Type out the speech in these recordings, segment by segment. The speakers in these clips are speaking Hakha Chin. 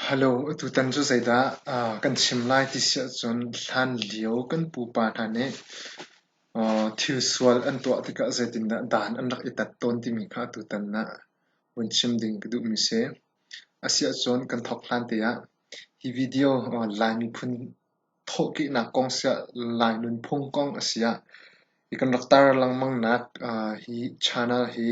Halo, tutan cu zeidah kan chim lai ti si ahcun hlan lio kan pupa hna nih thil sual an tuah tikah zeitindah dan an rak i tat tawn timi kha tutan ah vun chim ding ka duhmi a si. A si ahcun kan thawk hlan te ah hi video Lai miphun thawhkihnak kong siah Lai nunphung kong a si ah hi kan rak tar lengmangnak uh, hi channel hi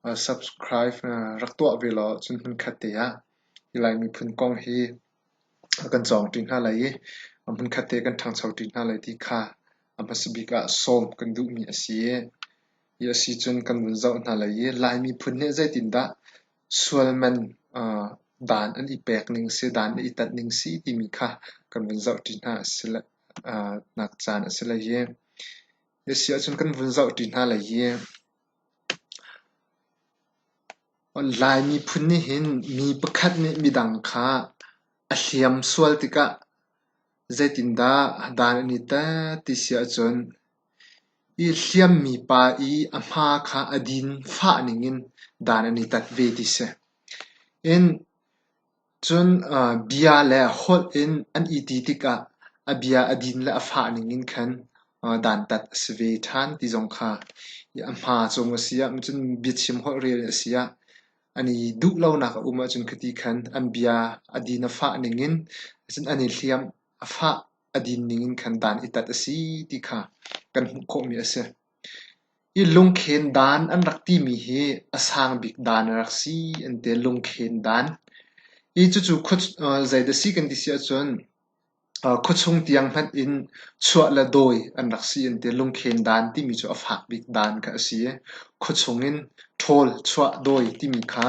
uh, subscribe uh, rak tuah ve law cun hmunkhat te ah hi Lai miphun kong hi kan cawng ṭi hna lai i hmunkhat te kan ṭhangcho ṭi hna lai ti kha a hmasa bik ah sawm kan duhmi a si i hi a si cun kan vun zoh hna lai i Lai miphun nih zeitindah Sualman dan an i pek ning si, dan an i tanh ning si timi kha kan vun zohṭi hna a si le nak caan a si lai i, hi a si ahcun kan vun zohṭi hna lai i, Lai miphun nih hin mi pakhat nih midang kha a hliam sual tikah zeitindah dan an i tanh ti si ahcun, I hliammi pa i a hma kha a din fah ningin dan an i tat ve ti si. In cun bia le holh in an i ti tikah a bia a din le a fah ningin khan dantat a si ve ṭhan ti zong kha a hma cung a si ah cun biachim holh rel a si ah an i duh lonak a um ahcun khiti khan an bia a din a fah ningin an i hliamh a fah. a din ningin khan dan i tat a si ti kha kan hmuh khawhmi a si. I lungkhen dan an rak timi hi a sang bik dan a rak si an ti. Lungkhen dan. I cucu zeidah si kan ti si ahcun khuachung tiang hmanh in chuah le dawi an rak si an ti. Lungkhen dan timi cu a fak bik dan kha a si. Khuachung in ṭhawl, chuah, dawi timi kha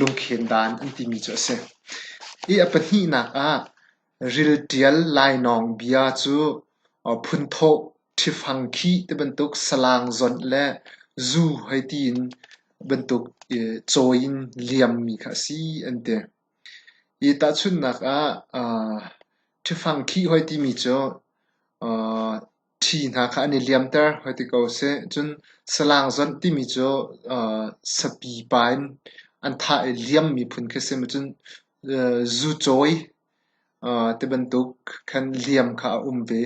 lungkhen dan an timi cu a si. I a pahnihnak ah Ril ṭial lainawng bia cu phunthawh ṭhifang khi ti bantuk salang zonh le zu hoi tiin bantuk cawi in liammi kha a si an ti. Hi tahchunhnak ah ṭhifang khi hoi timi cu Ṭhi hna kha an i liamter hoi ti ko seh. Cun salang zonh timi cu sapipa in an thah i liam miphun khi a si. Cun zucawi ti bantuk khan liam kha a um ve.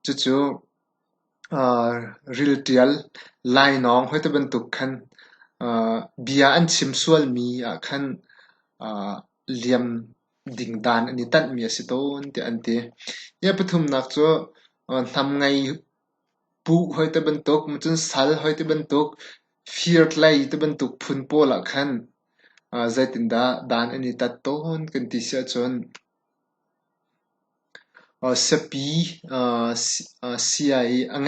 Cucu rilṭial, lainawng hoi ti bantuk khan bia an chim sualmi ah khan liam dingdan an i tanhmi a si tawn tiah an ti. Niah pathumnak cu hnamngei puh hoi ti bantuk, cun sal hoi ti bantuk, firtlei ti bantuk phun pawl ah khan zeitindah dan an i tat tawn kan ti siahcun Siapi sia i a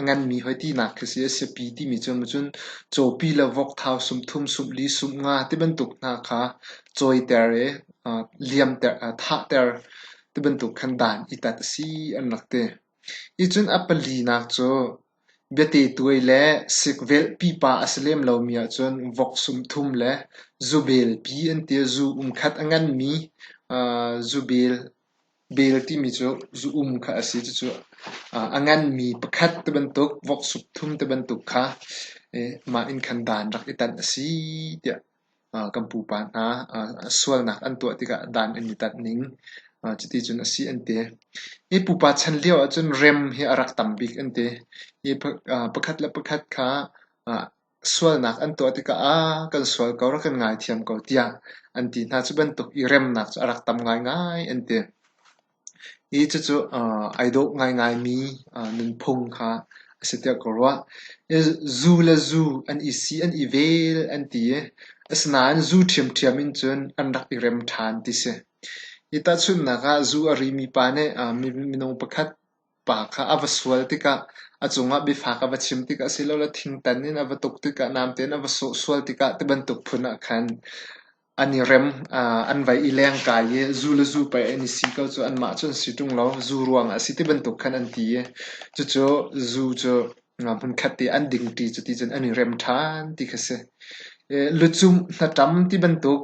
nganmi hawitinak khi a si. Siapi timi cu cun cawpi le vokthau, sumthum, sumli, sumnga ti bantuk hna kha cawiter i thahter ti bantuk khan dan i tat a si an rak ti. Hi cun a palinak cu Biate tuai le sikvelh pipa a si lem lomi ahcun vok sumthum le zubel pi an ti. Zu um khat a nganmi zubel, bel timi cu zu-um kha a si. Cucu a nganmi pakhat ti bantuk, vok sumthum ti bantuk kha mah inn khan dan rak i tanh a si tiah. kan pupa hna sualnak an tuah tikah dan an i tat ning cuticun a si an ti. Hi pupa chan lio ahcun rem hi a rak tam bik an ti. Hi pakhat le pakhat kha sualnak an tuah tikah "aa kan sual ko, rak kan ngaithiam ko" tiah an ti hna. Cu bantuk i remnak cu a rak tam ngaingai an ti. i cucu ai dawh ngaingai mi nunphung kha a si tiah ka ruah. Zu le zu an i si an i vel an ti i asinain zu ṭhiamṭhiam in cun an rak i rem ṭhan ti si. Hi tahchunhnak ah zu a ri mi pa nih minung pakhat pa kha a va sual tikah a cungah biafak a va chim tikah silole thingtan in a va tuk tikah namte in a va sawhsual tikah tibantuk phun ah khan An i rem, an vai i leng kai i zu le zu pei an i si ko cu. Anmah cu an si ṭung lo. Zu ruangah a si ti bantuk khan an ti i cucu zu cu hmunkhat te an dingṭi cuti cun an i rem ṭhan ti kha si. Lucum hnaṭam ti bantuk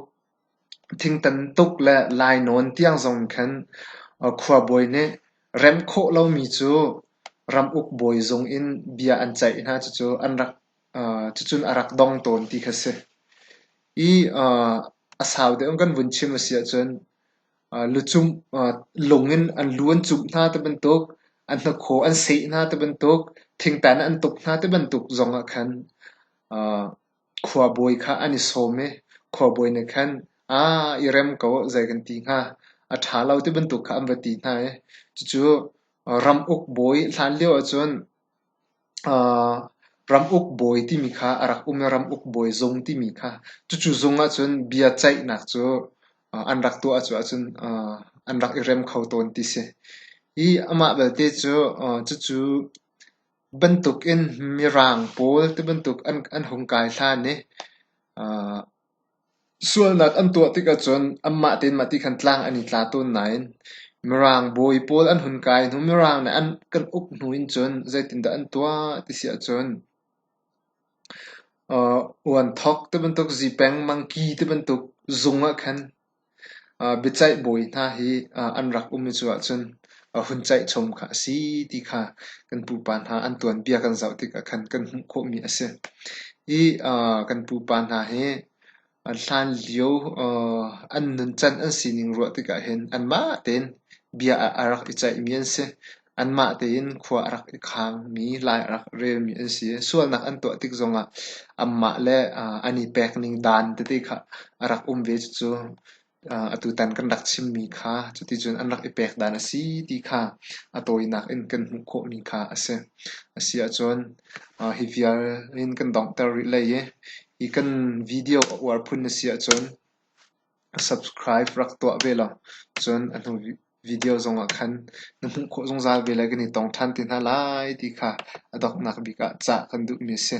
thingtan tuk le lainawn tiang zong khan khuabawi nih rem khawh lomi cu ramuk bawi zung in bia an ceih hna. Cucu an rak Cucun a rak dong tawn ti kha si. I a sau deuh in kan vun chim a si ahcun lucung lung in an lu an cumh hna ti bantuk, an hnakhaw an seh hna ti bantuk, thingtan an tuk hna ti bantuk zong ah khan khuabawi kha an i sawm i khuabawi nih khan i rem ko zei kan ti hnga, a ṭha lo ti bantuk kha an va ti hna i cucu ram uk bawi hlan lio ahcun Ramuk bawi timi kha a rak um i ramuk bawi zung timi kha cucu zung ahcun bia ceihnak cu an rak tuah ahcun an rak i rem kho tawn ti si. Hi amah belte cu cucu bantukin mirang pawl tibantuk an hung kai hlan i Sualnak an tuah tik ahcun anmah tein mah ti khan tlang an i tla tawn nain Mirang bawi pawl an hun kai hnu Mirang nih an kan uk hnu in cun zeitindah an tuah ti si ahcun uan thok tibantuk, zipeng, mangki tibantuk zung ah khan biacaih bawi hna hi an rak um i cu ahcun hun caih chom kha a si ti kha kan pupa hna an tuanbia kan zoh tikah khan kan hmuh khawhmi a si. Hi kan pupa hna hi hlan lio an nuncan an sining ruah tikah hin anmah tein bia a rak i caihmi an si. Anmah tein khua a rak i khaang mi lai a rak relmi an si. Sualnak an tuah tik zongah anmah le an i pek ning dan tete kha a rak um ve. Cucu atutan kan rak chimmi kha cuticun an rak i pek dan a si ti kha a tawinak in kan hmuh khawhmi kha a si. A si ahcun hi vial in kan donghter rih lai i hi kan video a uar phun na si ahcun Subscribe rak tuah ve law cun a hnu video zongah khan na hmuh khawh zungzal ve lai kan i tong ṭhan te hna lai ti kha a donghnak bik ah cah kan duhmi a si.